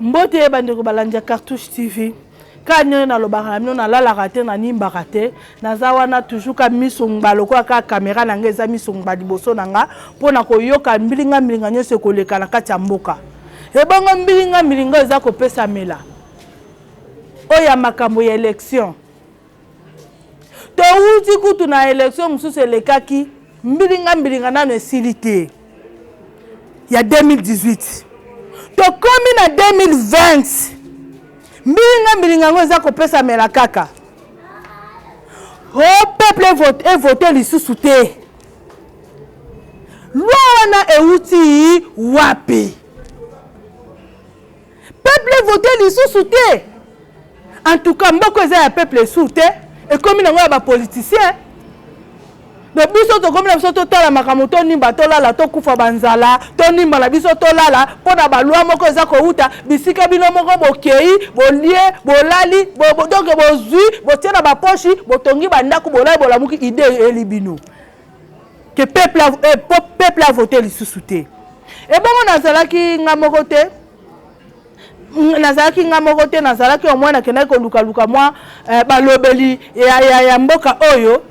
mbote ye bandeko balandi ya cartouche tv kaka ndenge nalobaka na bino nalalaka te nanimbaka te naza wana toujours ka miso ngba lokola kaka kamera na ngai eza miso ngba liboso na nga mpo na koyoka mbilinga mbilinga nyonso ekoleka na kati ya mboka ebongo mbilinga mbilinga eza kopesamela oyo ya makambo ya election Towuti kutu na election mosusu elekaki mbilinga mbilinga nanu esili te ya 2018 tokomi na 2020 mbilinga mbilinga yango eza kopesamela kaka ho peuple e vote lisusu te loi wana ewuti wapi? peuple evote lisusu te en tout cas mboko eza ya peuple esusu te ekomi nango ya bapoliticien me biso tokomi na biso totala makambo tonimba tolala tokufa banzala tonimba na biso tolala mpo na balwa moko eza kowuta bisika bino moko bokei bolie bolali donke bozwi botie na baposhi botongi bandako bolali bolamuki ide eyeli bino que peuple a, eh, peuple a voté lisusu te ebongo nazalaki nga moko te nazalaki nga moko te nazalaki au moins nakendaki kolukaluka mwa eh, balobeli ya, ya, ya mboka oyo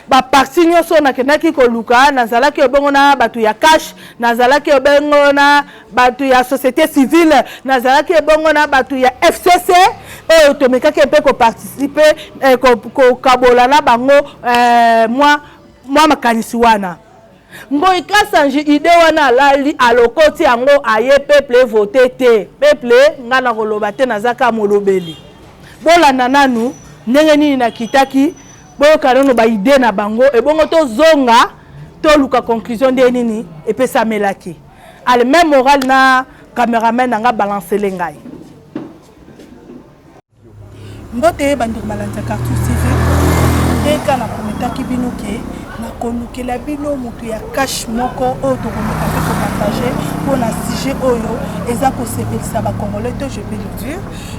baparti nyonso nakendaki koluka nazalaki ebongo na bato ya cash nazalaki ebongo na bato ya société civile nazalaki ebongo na bato ya fcc oyo tomekaki mpe koparticipe eh, kokabola na bango eh, mwa, mwa makanisi wana ngoi kasanji ide wana alali alokoti yango aye peple evote te peple ngai nakoloba te nazaka molobeli bolanda nanu ndenge nini nakitaki boyoka nano baide na bango ebongo tozonga toluka conclusion nde nini epesamelaki Allez, même morale na cameraman na nga balance le ngai. Mbote bandeko balandi ya Cartoon TV. Ndeka na prometaki bino ke na kolukela bino moto ya cash moko oyo tokomeka mpe kopartage mpo na sujet oyo eza kosepelisa bacongolais to je peux le dire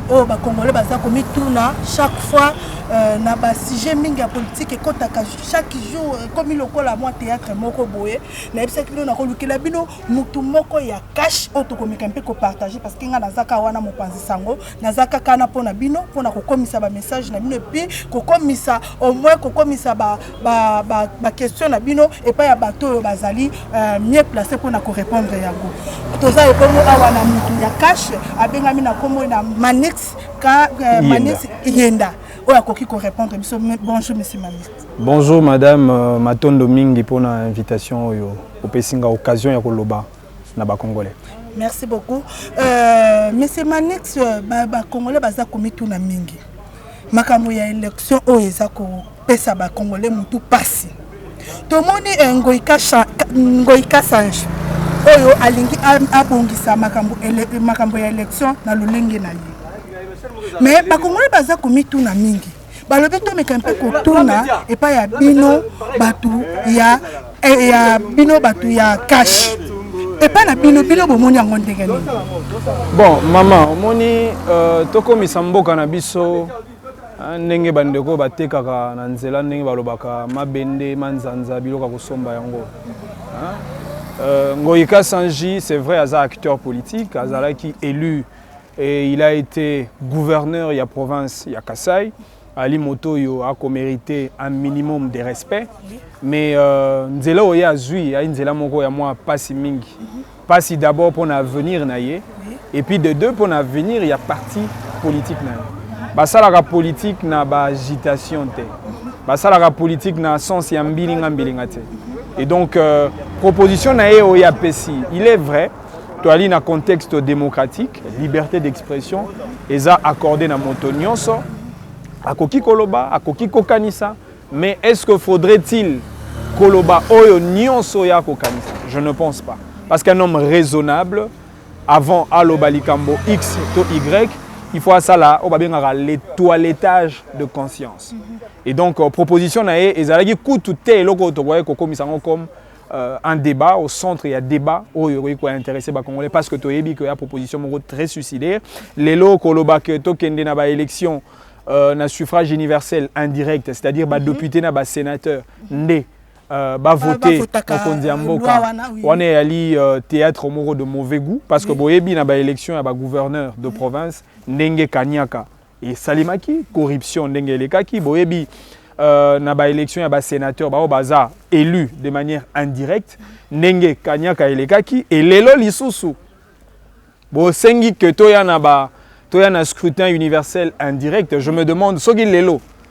oyo bacongolais baza komituna chaque fois euh, na basujet mingi ya politike ekotaka chaque jour ekomi lokola mwa théâtre moko boye nayebisaki bino nakolukela bino motu moko ya kashe oyo tokomeka mpe kopartage parce que ngai naza kaka wana mopanzi sango naza kaka na mpo na bino mpo na kokomisa bamessage na bino epuis kokomisa au moins kokomisa baquestion na bino epai ya bato oyo bazali euh, mieux place mpo na korépondre yango toza ebongo awa na motu ya kashe abengami na nkombo na manix ka euh, manix yenda oyo akoki korépondre biso bonjour monsieur manix Bonjour madame matondo mingi pona invitation oyo opesi nga occasion ya koloba na ba congolais. Merci beaucoup euh, monsieur Manix euh, ba, ba congolais baza komituna mingi makambo ya election oyo eza kopesa ba congolais mutu pasi tomoni eh, ngoika, ngoika sange oyo alingi abongisa makambo, ele, makambo ya election na lolenge na ye mais bakongolais baza komituna mingi balobi tomeka mpe kotuna epai ya bino bato ya, eh, ya bino bato ya kashe epai na bino bino bomoni yango ndenge nini bon mama omoni uh, tokomisa mboka na biso ah, ndenge bandeko oyo batekaka na nzela ndenge balobaka mabende manzanza biloko ya kosomba yango ah, uh, ngoyika sanji c'est vrai aza acteur politique azalaki élu Et il a ete gouverneur ya province ya Kasaï. Ali moto oyo akomerite un minimum de respect mais euh, nzela oyo ye azwi ayi nzela moko ya mwa mpasi mingi mpasi mhm. d'abord mpo na avenir na ye et puis de deux mpo na avenir ya parti politique na ye basalaka politique na baagitation te mhm. basalaka politique na sens ya mbilinga mbilinga te et donc euh, proposition na ye oyo apesi il est vrai toali na contexte démocratique liberté d'expression eza accordé na moto nyonso akoki koloba akoki kokanisa mais est ce que faudrait-il koloba oyo nyonso ya kokanisa je ne pense pas parce qu'un homme raisonnable avant aloba likambo x to y il faut asala oyo babengaka le toilettage de conscience et donc euh, proposition na ye ezalaki kutu te eloko oyo tokoki kokomisa yango comme euh, un débat au centre ya débat oyo ekoki kointeresse bacongolais parce que toyebi ke ya proposition moko très suicidaire lelo koloba ke tokende na baélection euh, na suffrage universel indirect c'est-à-dire mhm. badepute mm -hmm. na basénateur mhm. nde euh, bavote mokonzi ya mboka wana eyali euh, théâtre moko de mauvais goût parce que boyebi na baélection ya bagouverneur de province ndenge kaniaka esalemaki corruption ndenge elekaki boyebi euh, na ba élection ya ba sénateur bao baza élu de manière indirecte ndenge kanyaka elekaki elelo lisusu bosengi que toya na ba toya na scrutin universel indirect je me demande soki lelo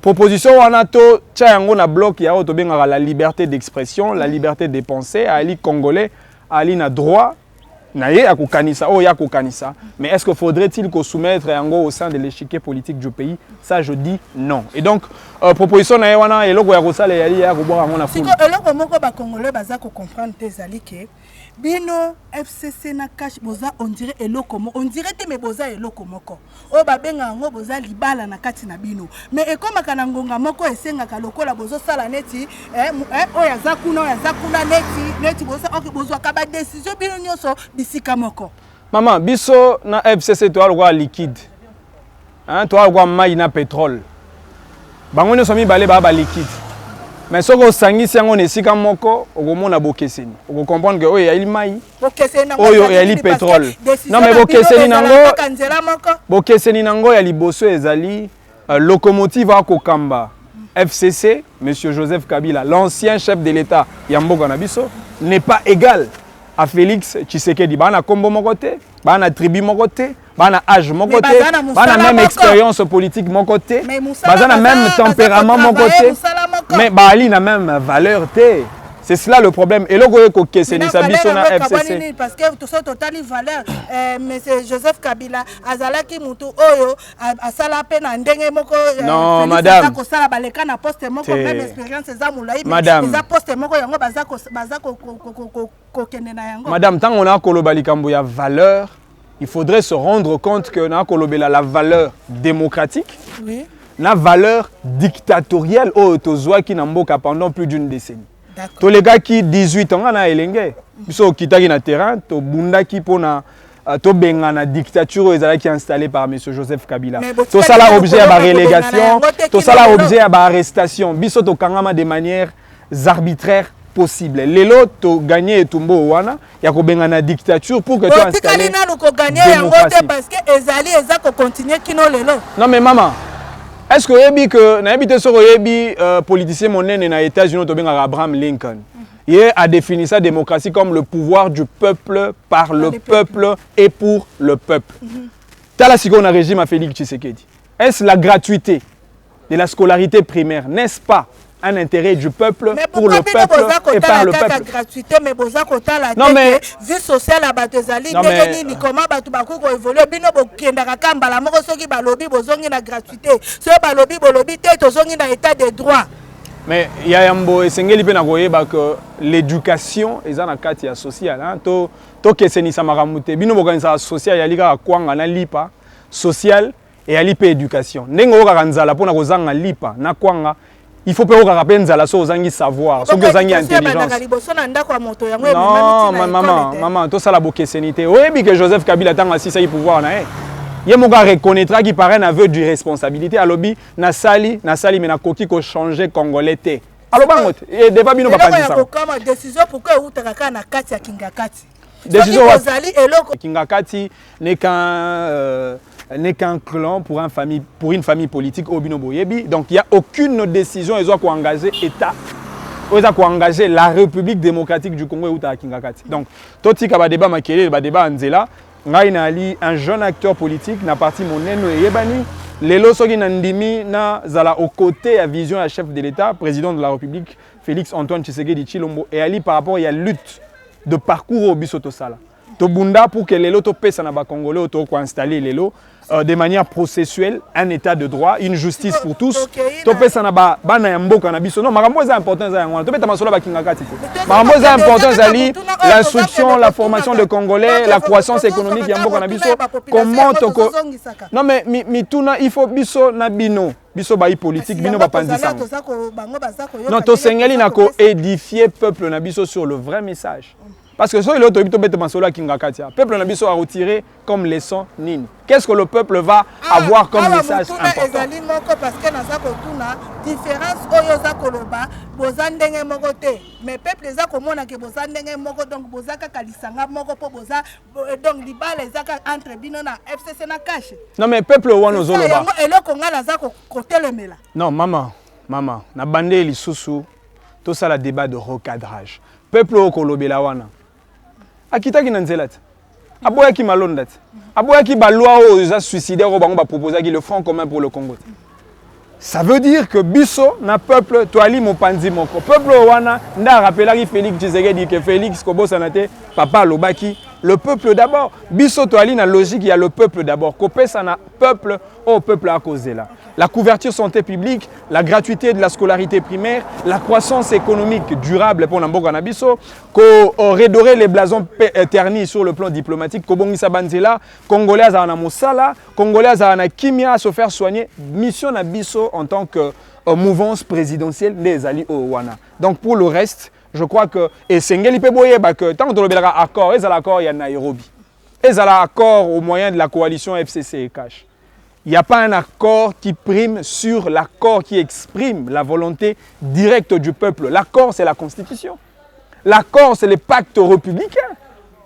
Proposition wana to tya yango na bloc ya oyo tobengaka la liberté d'expression, la liberté de penser, ali congolais, ali na droit na ye ya kokanisa oyo ya kokanisa mais est-ce que faudrait-il ko soumettre yango au sein de l'échiquier politique du pays ça je dis non et donc euh, proposition na ye wana eloko ya kosala eyali ya kobwaka yango na fulu siko eloko moko ba congolais baza ko comprendre te ezali ke Bino FCC na cash boza on dirait eloko moko on dirait te mais boza eloko moko oyo babenga yango boza libala na kati na bino mais ekomaka na ngonga moko esengaka lokola bozosala neti eh, eh, oyo aza kuna oyo aza kuna neti neti boza ok bozwaka badesizio bino nyonso bisika moko mama biso na FCC toya lokola liquide Hein, toa kwa mayi na petrole. Bango nyoso mibale ba ba liquide. Mais soki osangisi yango na esika moko, okomona bokeseni. Oko comprendre que oyo eyali mayi, oyo eyali petrole. Non mais bokeseni nango, bokeseni nango ya liboso ezali euh, locomotive akokamba FCC, Monsieur Joseph Kabila, l'ancien chef de l'État ya mboka na biso, n'est pas égal à Félix Tshisekedi. Bana kombo moko te, bana tribu moko te, bana âge moko te bana même expérience politique moko te baza na même tempérament moko te mais baali na même valeur te c'est cela le problème eloko oyo ekokesenisa biso na fcc parce que toso totali valeur euh, monsieur joseph kabila azalaki motu oyo asala mpe na ndenge moko euh, non madame kosala baleka na poste moko même expérience eza molai eza poste moko yango baza kokende na yango madame ntango na koloba likambo ya valeur il faudrait se rendre compte que na kolobela la valeur démocratique oui. na valeur dictatorielle oyo tozwaki na mboka pendant plus d'une décennie tolekaki 18 ans nga na elenge biso okitaki na terrain tobundaki mpo na euh, tobengana dictature oyo ezalaki installé par m joseph kabila tosala objet ya barélégation tosala objet ya baarrestation biso tokangama de manière arbitraires possible lelo to gagner etumbo wana ya kobengana dictature pour que toi installer nanu ko gagner yango te parce que ezali eza ko continuer kino lelo non mais maman est ce que oyebi que nayebi te soki oyebi euh, politicien monene na états-unis tobengaka abraham lincoln ye a défini sa démocratie comme le pouvoir du peuple par le peuple et pour le peuple mhm. tala sikoyo na régime ya félix tshisekedi est ce la gratuité de la scolarité primaire, n'est-ce pas un intérêt du peuple mais pour le peuple et par le peuple. gratuité mais boza kotala non mais vie sociale ya bato ezali ndenge nini comment bato bakoki koévolue bino bokendaka ka mbala moko soki balobi bozongi na gratuité soki balobi bolobi te tozongi na état de droit mais ya yambo esengeli mpe na koyeba que l'éducation eza na kati ya social tokesenisa makambo te bino bokanisaka social yali kaka kwanga na lipa social Eyali pe education. Ndenge oyokaka nzala pona kozanga lipa na kwanga, il faut pe oyokaka pe nzala soki ozangi savoir, soki ozangi intelligence. Non, ma maman, maman, tosala bokeseni te. Oyebi ke Joseph Kabila tango asisaki pouvoir na ye, ye moko a reconnaîtraki par un aveu d'irresponsabilité, alobi nasali, nasali mais nakoki ko changer congolais te. Aloba yango te, devant bino bapanzi sango. Decision wapi? Ezali eloko. Kingakati n'est qu'un euh, n'est qu'un clan pour, un famille, pour une famille politique au Bino Boyebi. Donc il n'y a aucune décision qui soit engagée État. oza koengage la république démocratique du congo eutaka kingakati donc totika badeba makelele badeba ya nzela ngai nayali un jeune acteur politique na parti monene eyebani lelo soki nandimi nazala au côté ya vision ya chef de l'état président de la république félix antoine tshisekedi tshilombo eyali par rapport ya lutte de parcours oyo biso tosala tobunda pour que lelo topesa na bacongolais oyo toko koinstalle lelo euh, de manière processuelle un état de droit une justice pour tous topesa na ba, bana ya mboka na biso non makambo eza important eza yango wana tobeta masolo bakingakati te makambo eza important ezali l'instruction la formation de congolais la croissance économique ya mboka na biso comment toko non mais mituna mi il faut biso na bino biso bayi politique bino bapanzi sango non tosengeli na koedifie peuple na biso sur le vrai message parce que soki lelo toyebi tobete masolo ya kingakati ya peuple na biso aretire comme leçon nini qu'est ce que le peuple va ah, avoir comme ah, message importantezali moko parce que naza kotuna différence oyo oza koloba boza ndenge moko te mais peuple eza komona ke boza ndenge moko donc boza kaka lisanga moko mpo boza Euh, donc libala eza kaka entre bino na fcc na cash non mais peuple wana ozoloba yango eloko ngai naza kotelemela non mama mama nabandeli lisusu tosala débat de recadrage peuple oyo kolobela wana akitaki na nzela te aboyaki malonda te aboyaki balwa oyo eza suicidaire oyo bango baproposaki le front commun pour le congo te Ça veut dire que biso na peuple toali mopanzi moko. Peuple oyo wana nde arapelaki Felix Tshisekedi que Felix kobosana te papa alobaki le peuple d'abord. Biso toali na logique ya le peuple d'abord. Kopesa na peuple au peuple akozela. La couverture santé publique, la gratuité de la scolarité primaire, la croissance économique durable pour Namboka Nabiso, ko euh, redorer les blasons euh, ternis sur le plan diplomatique, kobongisa banzela, congolais azana mosala, Congolais azala na kimia à se faire soigner. Mission na biso en tant que euh, mouvance présidentielle nde ezali oyo oh, wana. Donc pour le reste, je crois que esengeli pe boyeba que tant que belaka accord, ezala accord ya Nairobi. Ezala accord au moyen de la coalition FCC et CACH. Il n'y a pas un accord qui prime sur l'accord qui exprime la volonté directe du peuple. L'accord, c'est la Constitution. L'accord, c'est le pacte républicain,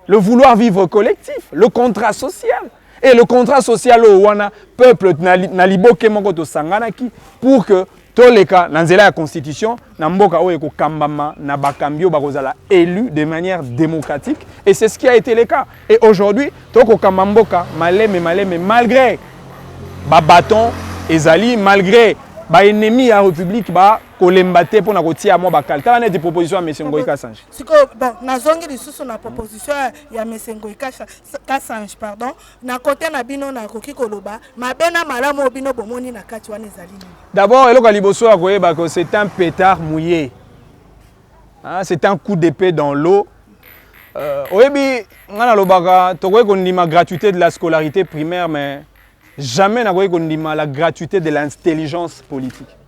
le vouloir vivre collectif, le contrat social. Et le contrat social au wana peuple na, na liboke moko tosanganaki pour que toleka na nzela ya constitution na mboka oyo ekokambama na bakambi oyo bakozala élu de manière démocratique et c'est ce qui a été le cas et aujourd'hui tokokamba mboka maleme maleme malgré babaton ezali malgré baennemi ya république ba kolemba te mpo na kotia mwa bakali tala neti proposition ya mese ngoi kasange sikoyo nazongi lisusu na proposition ya mese ngoi kasange pardon na kote na bino nakoki koloba mabe na malamu oyo bino bomoni na kati wana ezali nini d'abord eloko ya liboso ya koyeba ko c'est un pétard mouillé ah, c'est un coup d'épée dans l'eau euh, oyebi ngai nalobaka tokoki kondima gratuité de la scolarité primaire mais jamais nakoki kondima la gratuité de l'intelligence politique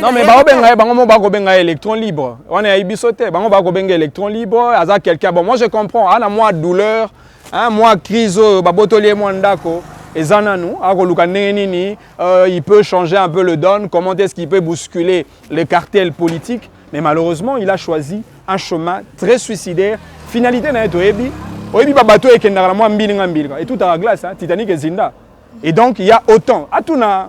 non mais bakobenga ye bango moko bakobenga ye électron libre wana yayi biso te bango bakobenga électron libre aza quelqu'un bon moi je comprends ana mwa douleur hein, mwa crise oyo babotoli ye mwa ndako eza nanu akoluka ndenge nini euh, il peut changer un peu le don comment est-ce qu'il peut bousculer le cartel politique mais malheureusement il a choisi un chemin très suicidaire finalité na ye toyebi oyebi babato ekendaka na mwa mbilinga mbilinga etutaka glace hein, titanique ezinda et donc il y a autant atuna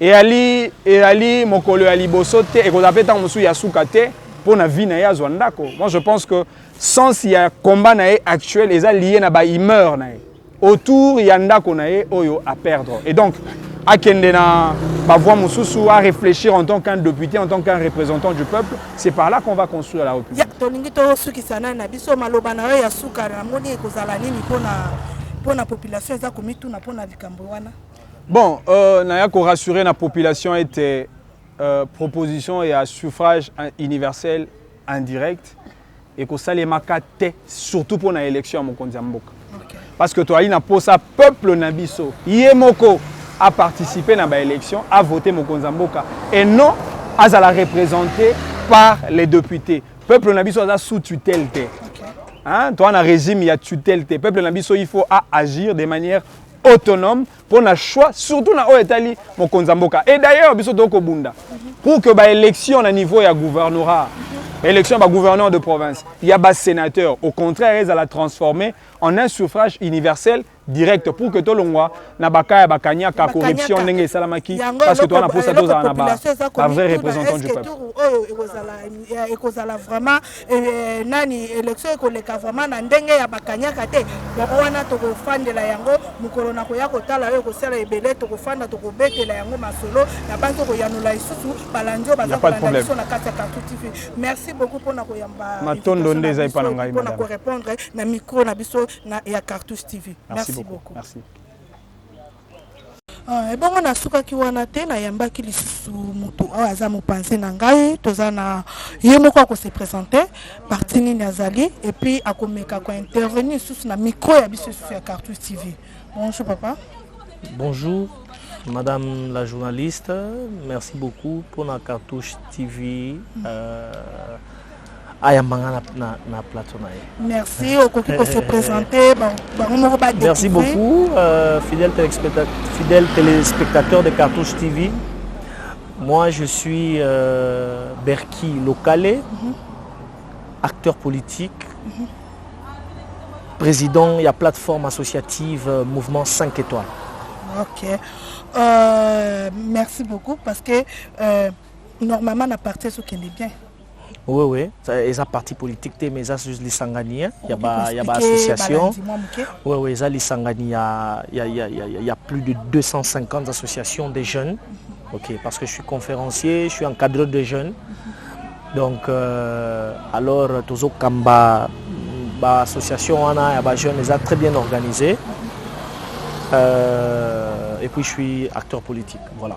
Eyali, eyali mokolo ya liboso te, ekozala mpe ntango mosusu ya suka te mpo na vie na ye azwa ndako. Moi, je pense que sens ya combat na ye actuel eza lié na ba humeur na ye autour ya ndako na ye oyo a perdre. Et donc, akende na ba voix mosusu, à réfléchir en tant qu'un député, en tant qu'un représentant du peuple, c'est par là qu'on va construire la République. Ya tolingi tosukisa na na biso maloba na yo ya suka na moni ekozala nini mpo na mpo na population eza komituna mpo na likambo wana. Bon euh, naya ko rassurer na population ete euh, proposition ya suffrage universel indirect ekosalemaka te surtout mpo na élection ya mokonzi ya mboka okay. parce que toyali na mposa peuple na biso ye moko aparticipe na baélection avote mokonzi ya mboka et non azala représente par les députés peuple na biso aza sous tutelle te okay. hein? toa na régime ya tutelle te peuple na biso il faut aagir de manière autonome mpo na choix surtout na oyo etali mokonzi ya mboka et d'ailleurs biso tokoki kobunda pour que baélection na niveau ya gouvernorat élection ya bagouverneur de province ya basénateur au contraire ezala transformé en un suffrage universel direct pour que tolongwa na baka ya bakanyaka corruption ndenge esalamaki parce que toza na mposa tozala na bavrai représentant du peuple ekozala vraiment eh, nani election ekoleka vraiment na ndenge ya bakanyaka te yango wana tokofandela yango mokolo na koya kotala oyo ekosala ebele tokofanda tokobetela yango masolo na bani tokoyanola lisusu balandi oyo baza kolanda biso na kati ya kartu tv merci beaucoup mpona koyamba matondo nde eza epa na ngai mpona korepondre na micro na biso ya cartouche tv merci beaucoup merci. Ah, ebongo nasukaki wana te nayambaki lisusu moto oyo aza mopanzi na ngai toza na ye moko akose présente parti nini azali epuis akomeka kointervenir lisusu na micro ya biso lisusu ya cartus tv bonjour papa bonjour madame la journaliste merci beaucoup mpona cartouche tv mm. euh, ayamba nga na, na, na plateau na ye merci okoki ko se présenter bango moko ba merci beaucoup euh, fidèle, téléspectateur, fidèle téléspectateur de cartouche tv moi je suis euh, berki locale mm -hmm. acteur politique mm -hmm. président ya plateforme associative euh, mouvement 5 étoiles ok euh, merci beaucoup parce que euh, normalement na parti ezokende bien Oui, oui. Eza parti politique te, mais eza juste lisangani hein, ya ba ya ba association. Oui, oui, eza lisangani ya ya ya ya ya plus de 250 associations des jeunes. Ok, parce que je suis conférencier, je suis encadreur de jeunes. Donc euh, alors tozo kamba ba association wana ya ba jeunes eza très bien organisé. Euh, et puis je suis acteur politique. Voilà.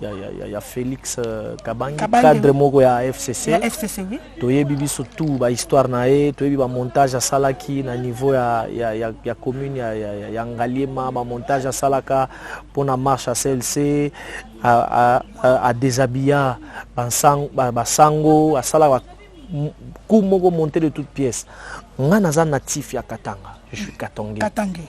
ya, ya, ya, ya Felix euh, Kabange, Kabange cadre moko ya FCC, ya FCC oui. toyebi biso tout ba histoire na ye toyebi ba montage asalaki na niveau ya, ya, ya, ya commune ya, ya, ya, ya Ngaliema ba montage asalaka mpona marche ya CLC a, a, a, a déshabilla basango ba, ba asalaka coup moko monte de toute pièce nga naza natif ya Katanga je suis katangais, katangais.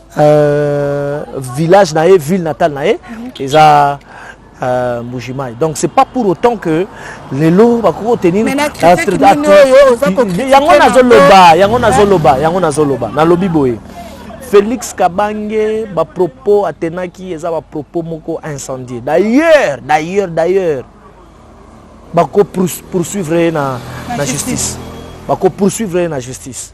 Euh, village na ye ville natale na ye eza euh, mbujimai donc c'est pas pour autant que lelo bakoki kotenir yango nazoloba yango nazoloba yango nazoloba nalobi boye félix kabange bapropos atenaki eza bapropos moko incendie d'ailleurs d'ailleurs d'ailleurs bako poursuivre ye na, na justice bako poursuivre ye na justice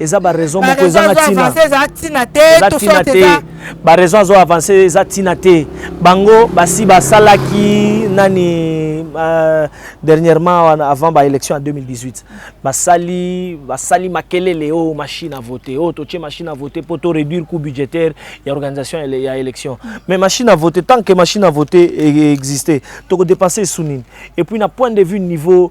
eza ba raison moko ezanga tina eza tina te eza tina te ba raison azo avancer eza tina te bango basi basalaki nani uh, dernièrement avant ba élection en 2018 basali basali makelele o oh, machine à voter o oh, totie machine à voter pour to réduire coût budgétaire ya organisation ya élection mais machine à voter tant que machine à voter e, e existait toko dépenser sous nini et puis na point de vue niveau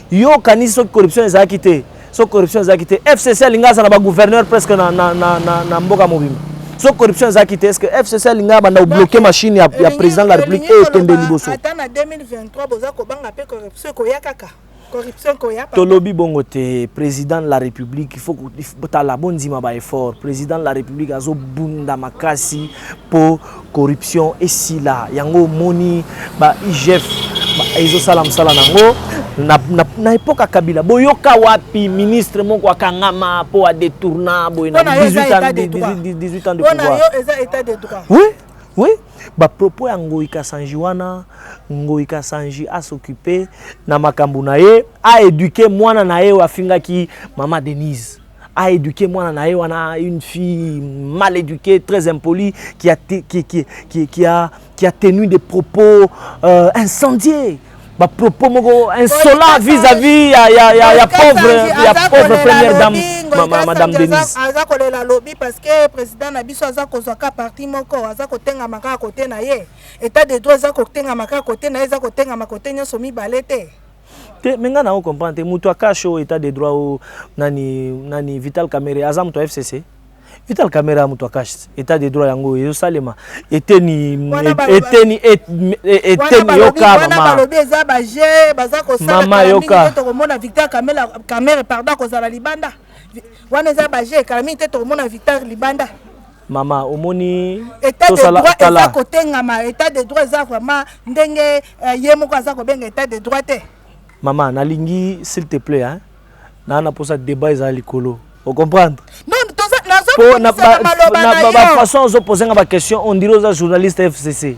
Yo okanisi soki corruption ezalaki te, soki corruption ezalaki te, FCC alinga azala ba gouverneur presque na, na, na, na, na mboka mobimba. Soki corruption ezalaki te, est-ce que FCC alinga abanda kobloke machine ya, ya président de la République oyo ekende liboso? Ata na 2023 boza kobanga pe corruption ekoya kaka. Corruption ekoya papa. Tolobi bongo te, président de la République, il faut tala bondima ba effort. Président de la République azobunda makasi po Corruption esila yango omoni ba IGF ezo sala musala nango na, na, na epoque ya Kabila boyoka wapi ministre moko akangama po a détourna boye na 18 ans 18 ans de pouvoir. Yo eza état de droit. Oui, oui. Ba propos ya Ngoyi Kasanji wana Ngoyi Kasanji a s'occuper na makambo na ye a éduquer mwana na ye oyo afingaki mama Denise. a éduquer mwana na ye wana une fille mal éduquée très impolie qui a, qui, qui, qui, qui a, qui a tenu des propos euh, incendiés bapropos moko insola vis-à-vis ya, ya, ya, ya pauvre, ya pauvre première dame mama, madame denise aza kolela lobi parce que président na biso aza kozwa ka parti moko aza kotengama kaka kote na ye état de droit eza kotengama kaka kote na ye eza kotengama kote nyonso mibale te te me ngai nango comprendre te moto akash o etat de droit o nani, nani vital kamere aza moto ya fcc vital kamere ya moto akash etat de droit yango oyo ezosalema eteni eteni eteni yoka mamabalobi eza baje baza kosalama yoka tokomona vital kamere pardon akozala libanda wana eza baje kala mingi te tokomona vital libanda mama omoni état de droit eza kotengama état de droit eza vraiment ndenge euh, ye moko aza kobenga état de droit te mama nalingi s'il te plaît hein? naa na mposa débat eza likolo ocomprendre bafaçon ozopose nga baquestion on dirait oza journaliste fcc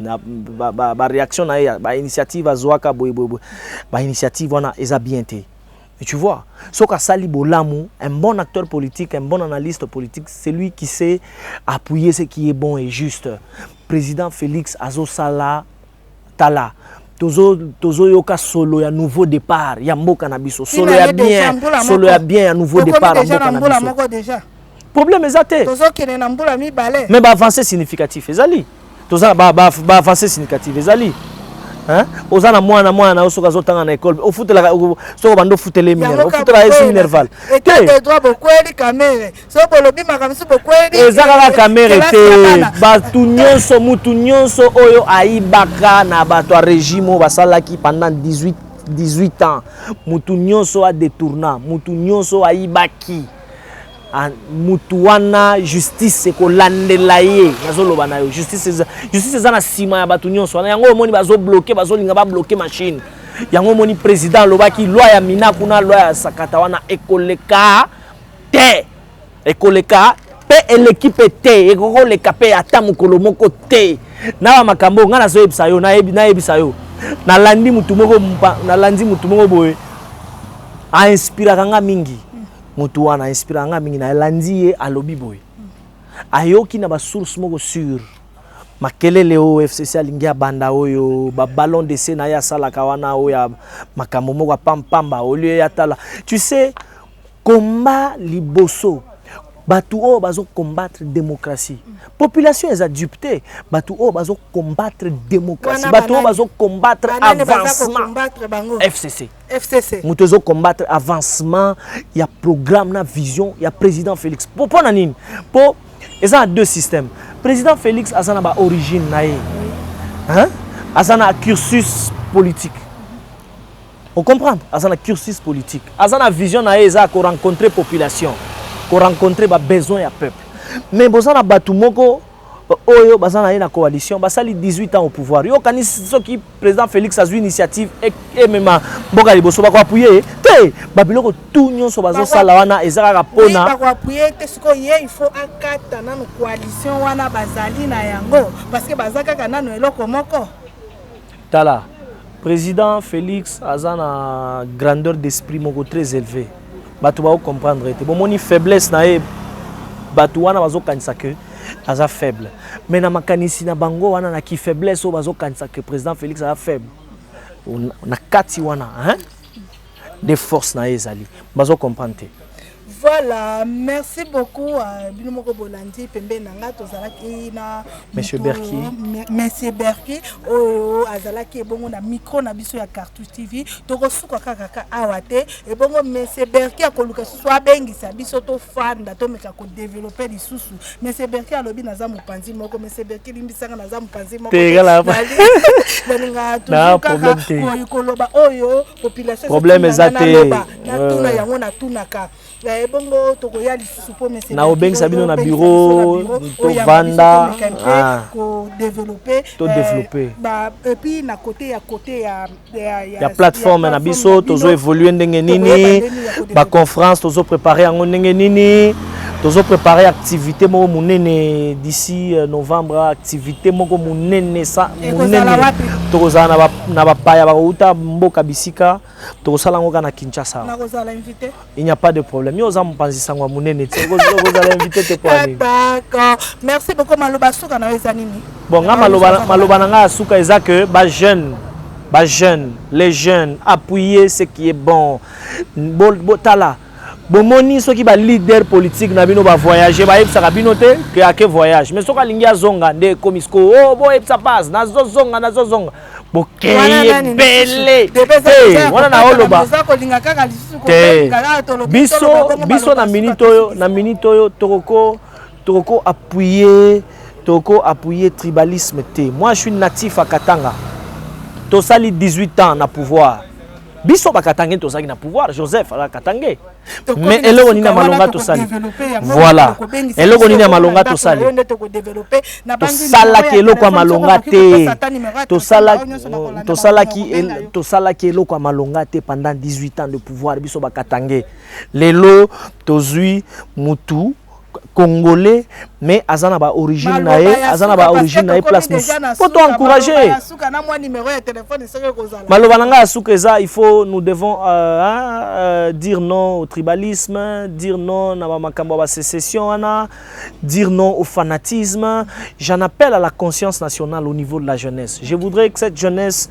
na ba, ba, ba réaction na ye ba initiative azuaka boye boye boye ba initiative wana eza bien te tu vois soki asali bolamu un bon acteur politique un bon analyste politique celui qui sait appuyer ce qui est bon et juste président félix azosala tala tozo tozoyoka solo ya nouveau départ ya mboka na biso solo ya bien solo ya bien ya nouveau départ ya mboka na biso problème eza te tozokende na mbula mibale mais baavance significatif ezali toza na baavance ba, ba significatif ezali Hein? oza na mwana mwana na yo soki azotanga na ekole ofutelaka soki obanda ofutela minerval ofutela esi minerval eza kaka kamere te bato nyonso mutu nyonso oyo ayibaka na bato ya regime oyo basalaki pendant 18 18 ans mutu nyonso adetourna mutu nyonso ayibaki Ah, mutu wana justice ekolandela ye nazoloba na yo justice eza justice eza na nsima ya bato nyonso wana yango omoni bazobloke bazolinga babloke machine yango omoni président alobaki loi ya mina kuna loi ya sakata wana ekoleka te ekoleka mpe eleki mpe te ekokoleka mpe ata mokolo moko te na bamakambo ngai nazoyebisa yo nayebisa yo nalandi motu moko nalandi motu moko boye a inspiraka nga mingi motu wana a inspiraka nga mingi nalandi ye alobi boye ayoki na basource moko sur makelele oyo fcc alingi abanda oyo babalon dese na ye asalaka wana oyo ya makambo moko apampamba olie atala tu sais komba liboso bato oyo bazokombatre démocratie population eza dupe te bato oyo bazokombatre démocratie bato oyo bazokombatre avancement fcc FCC. moto ezo combattre avancement ya programme na vision ya président Félix po po na nini po eza na deux systèmes président Félix aza na ba origine na ye hein aza na cursus politique o comprendre aza na cursus politique aza na vision na ye eza ko rencontrer population ko rencontrer ba besoin ya peuple mais boza na bato moko oyo baza na ye na coalition basali 18 ans au pouvoir yo okanisi soki président félix azwi initiative emema mboka liboso bakoapuye ye te babiloko tu nyonso bazosala wana eza kaka mpona bakoapuye te sikoyo ye il faut akata nano coalition wana bazali na yango parce que baza kaka nano eloko moko Tala president Felix aza na grandeur d'esprit moko très eleve bato bao comprendre ye te bomoni faiblesse na ye bato wana bazokanisa ke aza faible mais na makanisi na bango wana na kifaiblesse oyo bazokanisa ke president Felix aza faible na kati wana hein? de force na ye ezali bazo comprendre te voilà merci beaucoup euh, bino moko bolandi pembeni na ngai tozalaki na monsieur berki monsieur berki oyo azalaki ebongo na micro na biso ya cartouche tv tokosuka kaka ka awa te ebongo monsieur berki akoluka susu abengisa biso tofanda tomeka kodevelope lisusu monsieur berki alobi naza mopanzi moko monsieur berki limbisanga naza mopanzi moko nalinga tokaka koloba oyo population problème eza te natuna euh. yango natunaka eh, bongo tokoya lisusu mpo mesnaobengisa bino na biro tovanda ah. kodeveloppe eh, epuis na kote ya kote ya plateforme na biso tozo évolue ndenge nini baconférence tozo prépare yango ndenge nini tozo préparer activité moko monene d'ici euh, novembre activité moko monene sa monene tokozala na na bapaya bakouta mboka bisika tokosala yango kaka na kinshasa il n'y a pas de problème yo oza mopanzi sango ya monene te okozala invité te mpo nini d'accord merci beaucoup maloba suka na yo eza nini bon nga maloba maloba na ngai ya suka eza que ba jeune ba jeune les jeunes appuyer ce qui est bon botala bo, Bomoni soki ba leader politique na bino ba voyage bayebisaka bino te ke ake voyage mais soki alingi azonga nde ekomi siko o oh, boyebisa paz nazozonga nazozonga bokei ebele te wana na oloba te biso biso na minute oyo na minute oyo tokoko tokoko appuyer tokoko appuyer tribalisme te moi je suis natif à katanga tosali 18 ans na pouvoir biso bakatange tozalaki na pouvoir joseph azalaka katange mais eloko nini ya malonga tosali voilà eloko nini ya malonga tosali tosalaki eloko ya malonga te tosalaki eloko ya malonga te pendant 18 ans de pouvoir biso bakatange lelo tozwi mutu congolais mais aza na ba origine na ye aza na ba origine na ye place mosusu po to encourage maloba na ngai ya suka eza il faut nous devons euh, hein, euh, dire non au tribalisme dire non na bamakambo ya basécession wana dire non au fanatisme j'en appelle à la conscience nationale au niveau de la jeunesse je voudrais que cette jeunesse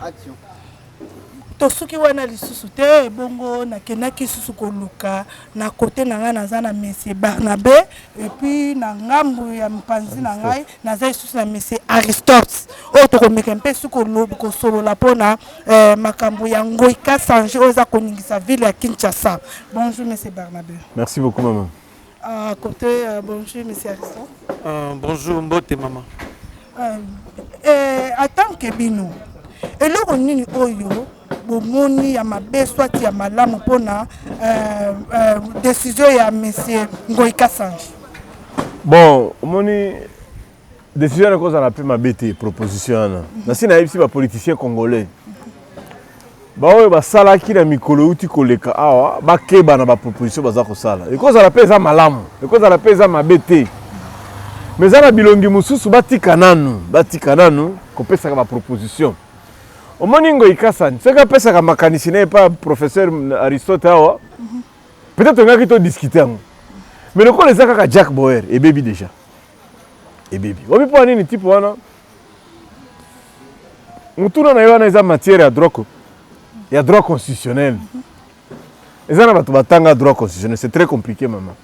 Action. tosuki wana lisusu te bongo nakendaki susu koluka na kote na ngai naza na monsieur barnabe epuis na ngambu ya mpanzi na ngai naza lisusu na monsieur aristote oyo tokomeka mpe su kosolola mpona eh, makambo ya ngoi kasange oyo eza koningisa ville ya kinshasa bonjour monsieur barnabe merci beaucoup mama Ah, côté, euh, bonjour, monsieur Harrison. Euh, bonjour, mbote, maman. Euh, euh, attends que bino. eloko nini oyo bomoni ya mabe swati ya malamu mpona euh, euh, desizio ya monsieur ngoi kasange bon omoni Decision wana ekozala mpe mabe te, proposition wana nasi nayebisi bapoliticien congolais baoyo basalaki na mikolo euti koleka awa bakeba na baproposition baza kosala. Ekozala mpe eza malamu, ekozala mpe eza mabe te, mais eza na bilongi mosusu batika nanu, batika nanu kopesaka baproposition. Omoni Ngoyi Kasani soki apesaka makanisi na ye epai professeur Aristote awa, peut-être tongaki todiscute yango, mais lokola eza kaka Jack Boer ebebi deja. ebebi wapi mpo ya nini tipe wana motuna na ye wana eza matière ya droit ya droit constitutionnel eza na bato batanga droit constitutionnel c'est très compliqué mama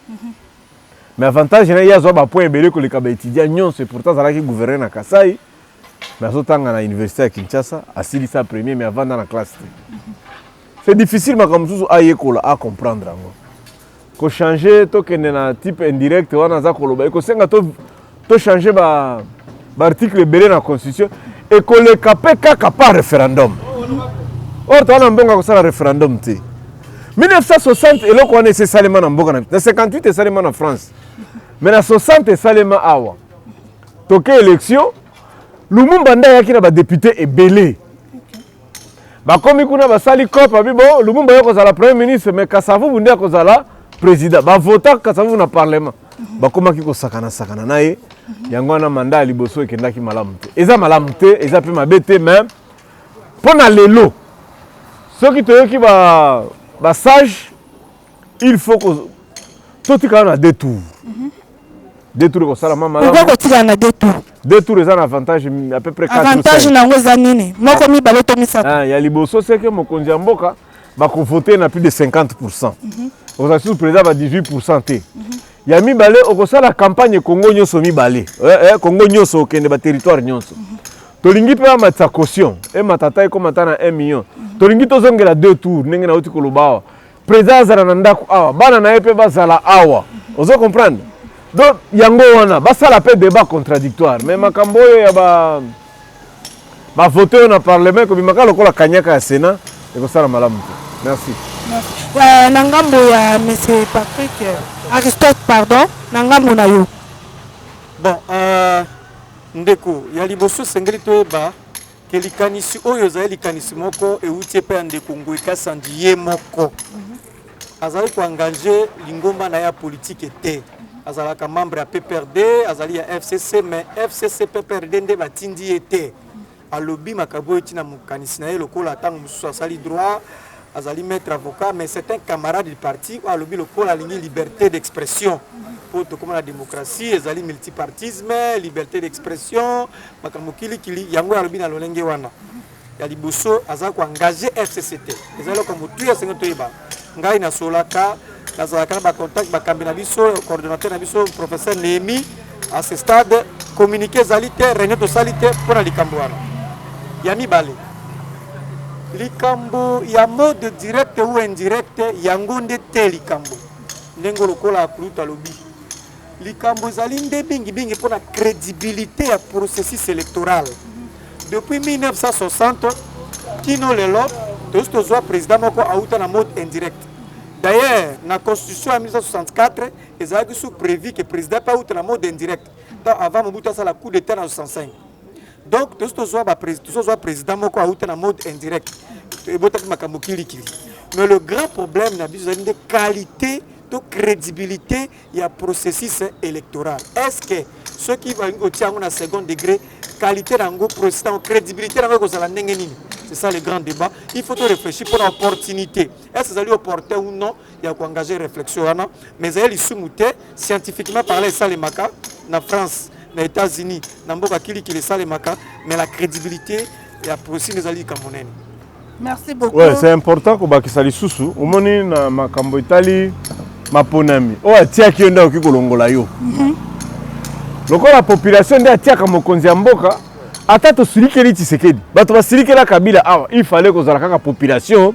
mais avantage na ye azwa bapoint ebele koleka baétudia nyonso epourtant azalaki gouverneur na kasai mais azotanga na université ya kinshasa asilisa premier mais avanda na classe te C'est difficile makambo mosusu ayekola a comprendre yango ko changer tokende na type indirect wana aza koloba ekosenga to to changer ba ba article ebele na constitution ekoleka mpe kaka par référendum or toza na mbongo ya kosala référendum te 1960 eloko wana esi esalema na mboka na 58 esalema na france mais na 60 esalema awa toke élection lumumba nde ayaki na badepute ebele bakomi kuna basali cop abi bo lumumba yo kozala premier ministre mais kasavubu nde akozala président bavota kasavubu na parlement bakomaki kosakana sakana na ye yango wana manda ya liboso ekendaki malamu te eza malamu te eza mpe mabe te mais mpo na lelo soki toyoki basage ba il faut ko to tikala na deux tours mhm. deux tours ko sala mama pourquoi ko tikala na deux tours deux tours eza na avantage à peu près 4 avantage na ngo eza nini moko mi balo to misatu ah ya liboso c'est que mokonzi ya mboka ba ko voter na plus de 50% mhm. oza sur président ba 18% te mhm. ya mibale okosala campagne kongo nyonso mibale eh, eh, kongo nyonso okende baterritoire nyonso mm -hmm. tolingi mpe bamatisa caution emata ata ekoma ata na 1 million tolingi tozongela deux tour ndenge nauti koloba awa President azala na ndako awa, bana na ye mpe bazala awa. Ozo comprendre? Donc yango wana basala mpe debat contradictoire, mais makambo oyo ya ba ba vote oyo na parlement ekobimaka lokola kanyaka ya Sénat ekosala malamu te. Merci. Euh, na ngambo ya monsieur Patrick euh, Aristote pardon, na ngambo na yo. Bon, euh, ndeko ya liboso esengeli toyeba ke likanisi oyo ezali likanisi moko euti epai ya ndeko Ngoy Kasandi ye moko azali koengage lingomba na ye ya politike te azalaka membre ya pprd azali ya fcc mais fcc pprd nde batindi ye te alobi makambo oyo ntina mokanisi na ye lokola ntango mosusu asali droit azali maître avocat mais c'est un camarade du parti oyo alobi lokola alingi liberté d'expression mpo tokoma na démocratie ezali multipartisme liberté d'expression makambo kilikili yango alobi na lolenge wana ya liboso aza koengage fcc te eza eloko ya motuya senge toyeba ngai nasolaka nazalaka na bacontact bakambi na biso coordonnateur na biso professeur Nehemi à ce stade communiqué ezali te réunion tosali te mpo na likambo wana ya mibale likambo ya mode direct ou indirect yango nde te likambo ndenge lokola akulutu alobi likambo ezali nde mingimingi mpo na crédibilité ya processus électoral depuis 1960 kino lelo tosi tozwa président moko auta na mode indirect D'ailleurs, na constitution ya 1964, ezalaki sous prévu que président pe auta na mode indirect. Donc avant Mobutu asala coup d'état na 65. Donc tozo tozwa ba tozo zwa président moko auta na mode indirect. Ebotaki makambo kilikili. Mais le grand problème na biso ezali nde qualité to crédibilité ya processus electoral est ce que soki balingi kotia yango na second degré qualité na yango processus yango crédibilité na yango ekozala ndenge nini c'est ça le grand débat il faut to réfléchir mpo na opportunité est ce ezali opportun ou non ya koengage réflexion wana mais ezali lisumu te scientifiquement parle esalemaka na france na états-unis na mboka kilikili esalemaka mais la crédibilité ya processus ezali likambo nene Merci beaucoup. Ouais, c'est important kobakisa lisusu omoni na makambo etali maponami oyo atiaki yo nde akoki kolongola yo mm -hmm. lokola population nde atiaka mokonzi ya mboka ata tosilikeli tshisekedi bato basilikela kabila awa il fallait kozala kaka population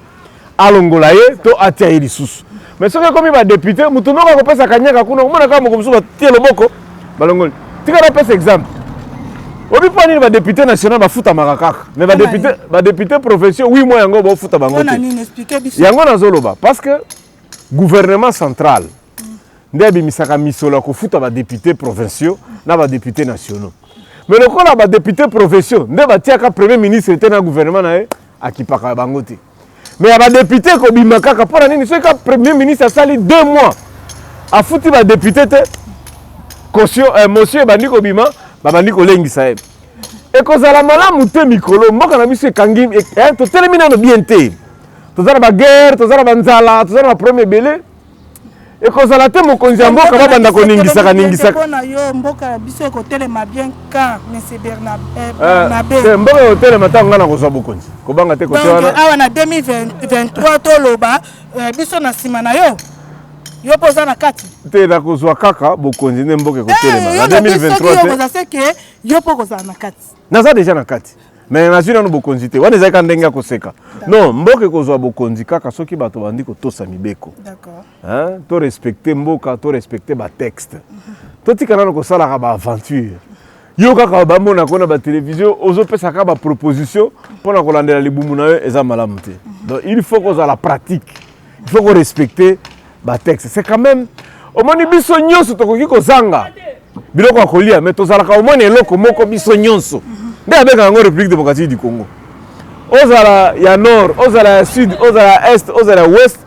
alongola ye to atia ye lisusu Mais soki ekomi ba député mutu noko akopesa kanyaka kuna omona kaka moko mosusu batie loboko balongoli tika napesa exemple obi mpo nini badepute national bafutamaka kaka mais badepute badepute provinciaux wi mwa yango baofuta bango te yango nazoloba parce que gouvernement central mm. nde abimisaka misolo ya kofuta badepute provinciaux na badepute nationaux mais lokola badepute provinciaux nde batiaka premier ministre te na gouvernement na ye akipaka bango te mais ya badepute ekobima kaka mpo na nini soki ka premier ministre asali deux mois afuti badepute te kosio eh, mosio ebandi kobima babandi kolengisa ye ekozala malamu te mikolo mboka na biso ekangi eh, totelemi nano bien te toza na baguerre toza na banzala toza na baproblème ebele ekozala te mokonzi ya mboka babanda koningisaka ningisaka mpo na yo mboka ya biso ekotelema bien ka monsieur bernabe eh, eh, mboka ekotelema ntango ngai nakozwa bokonzi kobanga te kotewana awa na 2023 toloba eh, biso na nsima na yo yo mpo oza na kati te nakozwa kaka bokonzi nde mboka ekotelema na 2023 te yo mpo okozala na kati naza deja na kati me nazwi nano bokonzi te wana ezali ka ndenge ya koseka non mboka ekozwa bokonzi kaka soki bato bandi kotosa mibeko to respecte mboka to respecte batexte mhm. totika nano kosalaka baaventure yo kaka bamona ko na batelevizio ozopesaka baproposition mpo na kolandela libumu na yo eza malamu te mhm. donc il faut kozala pratique il faut ko respecter ba texte c'est quand même omoni biso nyonso tokoki kozanga biloko ya kolia mais tozalaka omoni eloko moko biso nyonso nde abengaka yango république démocratique du congo ozala ya nord ozala ya sud ozala ya est ozala ya ouest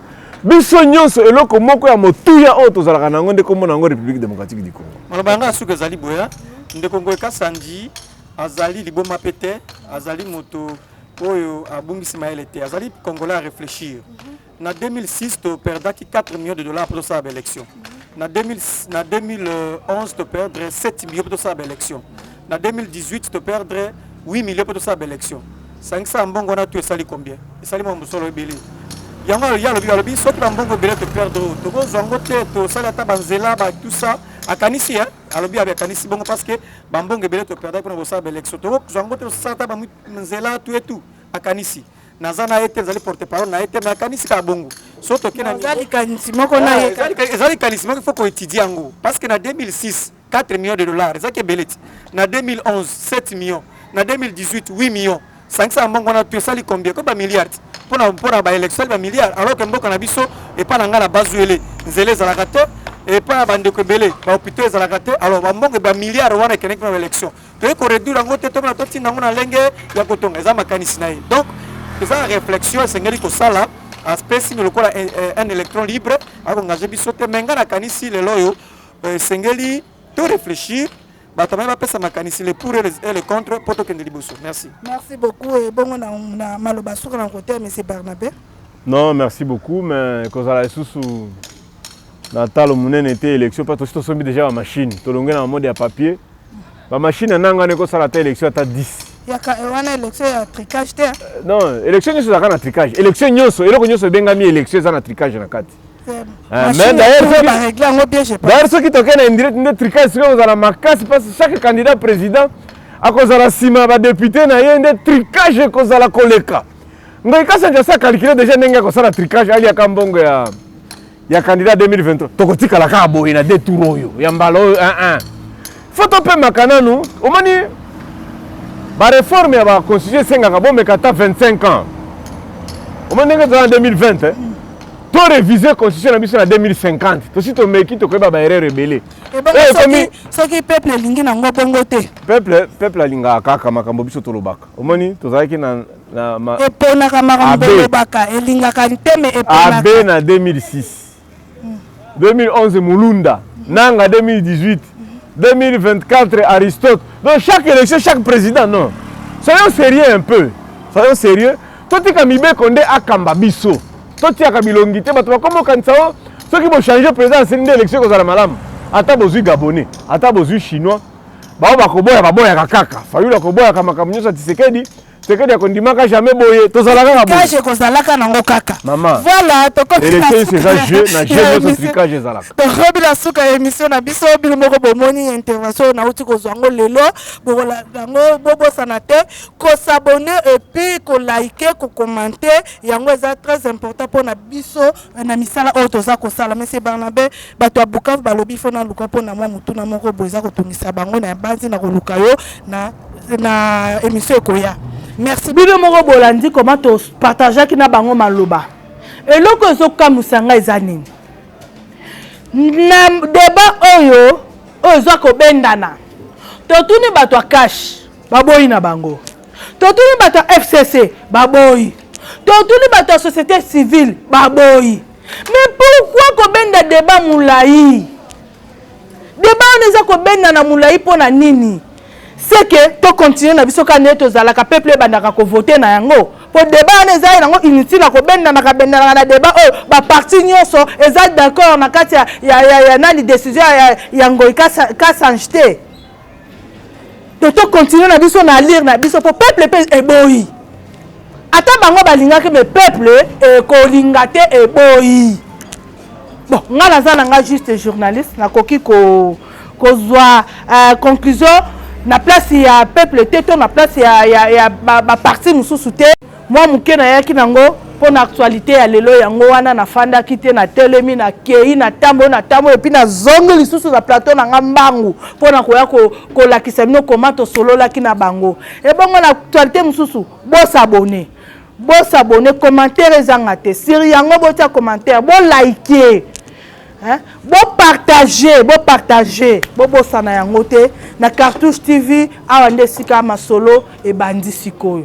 biso nyonso eloko moko ya motuya oyo tozalaka na yango nde komona yango république démocratique du congo maloba yango ya suka ezali boya ndeko ngoy kasandi azali liboma mpe te azali moto oyo abungisi mayele te azali congolais a réfléchir na 2006 to perdaki 4 millions de dollars mpo tosala ba élection na 2000 na 2011 to perdre 7 millions mpo tosala ba élection na 2018 to perdre 8 millions mpo tosala ba élection sangisa mbongo wana tu esali combien esali mwa mosolo ebele yango alobi alobi alobi soki bambongo ebele to perdre tokozwa yango te tosali ata banzela ba tout ça akanisi hein alobi abe akanisi bongo parce que ba mbongo ebele to perdaki pona kosala ba élection to zwa ngo te osala ta ba nzela tout et tout akanisi naza na ye te nazali porte parole na ye te mais akanisi kaka bongo so toke na ezali likanisi moko na ye ezali likanisi moko faut koétudie yango parce que na 2006 4 millions de dollars ezalaki ebele ti na 2011 7 millions na 2018 8 millions sangisa mbongo wana tu esali combien ko ba milliards pona pona ba élection ba milliards alors que mboka na biso epa na nga na bazuele nzela ezalaka te epa na bandeko ebele ba hôpitaux ezalaka te alors ba mbongo ba milliards wana ekendeki na ba élection toyei koreduire yango te tokona totinda yango na ndenge ya kotonga eza makanisi na ye donc eza réflexion esengeli kosala aspesi ni lokola eh, eh, un électron libre akongage biso te me nga nakanisi lelo oyo eh, esengeli to réfléchir bato naye bapesa makanisi le pour et le contre mpo tokende liboso merci merci beaucoup ebongo na, na maloba suka na kote ya monsieur barnabe non merci beaucoup mais ekozala lisusu na talo monene te élection mpo tosi tosombi déjà bamachine tolonge na bamode ya papier bamachine anangana ekosala ata élection ata 10 yaka eh, wana élection ya tricage te eh? euh, non élection nyonso ezalaka na tricage élection nyonso eloko nyonso ebengami élection eza na tricage na kati d'ailleurs soki tokei na indirect nde tricage soki ekozala makasi mpasi chaque candidat président akozala nsima ya badepute na ye nde tricage ekozala koleka ngai kasi anja sa calcule déjà ndenge akosala tricage aliaka mbongo ya ya candidat 2023 tokotikala kaka boye na de tour oyo ya mbala oyo 11 fo topemaka nanu omoni bareforme ya baconstitution esengaka bomeka ata 25 ans omoni ndenge toza na 2020 to réviser constitution na biso na 2050 tosi tomeki tokoyeba baerreur ebele eh, soki peuple elingi nango bongo te peuple peuple alingaka kaka makambo biso tolobaka omoni tozalaki na eponaka makambo tolobaka elingaka nteme eponaka abe na 2006 2011 Mulunda, Nanga 2018, 2024 Aristote. Donc chaque élection, chaque président, non. Soyons sérieux un peu. Soyons sérieux. Totika mibeko nde akamba biso. Totiaka bilongi te bato bakoma okanisa o soki bochange président asili nde élection ekozala malamu. Ata bozwi gabonais, ata bozwi chinois, bao bakoboya baboyaka kaka. Fayulu akoboyaka makambo nyonso ya Tshisekedi. sekedi ya kondimaka jamais boye tozalaka kaka boye kaje kozalaka nango kaka mama voilà tokomi election eza jeu na jeu nyonso tricage ezalaka tokomi na suka ya émission na biso bino moko bomoni intervention oyo nauti kozwa yango lelo bokolanda yango bobosana te kosabone epuis kolike kokomante yango eza très important mpo na biso na misala oyo toza kosala monsieur Barnabe bato ya Bukavu balobi fo naluka mpo na mwa motuna moko boye eza kotungisa bango na yabanzi na koluka yo na, na émission ekoya merci bino moko bolandi koma topartageaki na bango maloba eloko ezokamwisa ngai eza nini na deba oyo oyo eza kobendana totuni bato ya kashe baboyi na bango Totuni bato ya FCC baboyi. Totuni bato ya societe civile baboyi. Mais pourquoi kobenda debat mulayi? Debat wana eza kobenda na mulayi mpo na nini? C'est que to continuer na biso kaka ndenge tozalaka peuple ebandaka ko voter na yango. Po debat wana eza nango inutile na kobendanaka bendanaka na debat oyo ba parti nyonso eza d'accord na kati ya ya ya nani decision ya ya Ngoyi Kasanj te. te to continuer na biso na lire na biso mpo peuple mpe eboyi ata bango balingaki me peuple ekolinga te eboyi bon ngai naza na ngai juste journaliste nakoki ko kozwa uh, conclusion na place ya peuple te to na place ya, ya, ya baparti ba mosusu te Mwa moke nayaki nango mpo na actualite ya lelo, yango wana nafandaki te, natelemi, nakei, natamboli, natamboli epuis nazongi lisusu na plateau na nga mbangu mpo na koya kolakisa bino koma tosololaki na bango. Ebongo na actualite mosusu, bosabone bosabone, commentaire ezanga te sur yango, botia commentaire, bolaike bopartage bopartage bobosana yango te na cartouche tv awa nde esika masolo ebandi sikoyo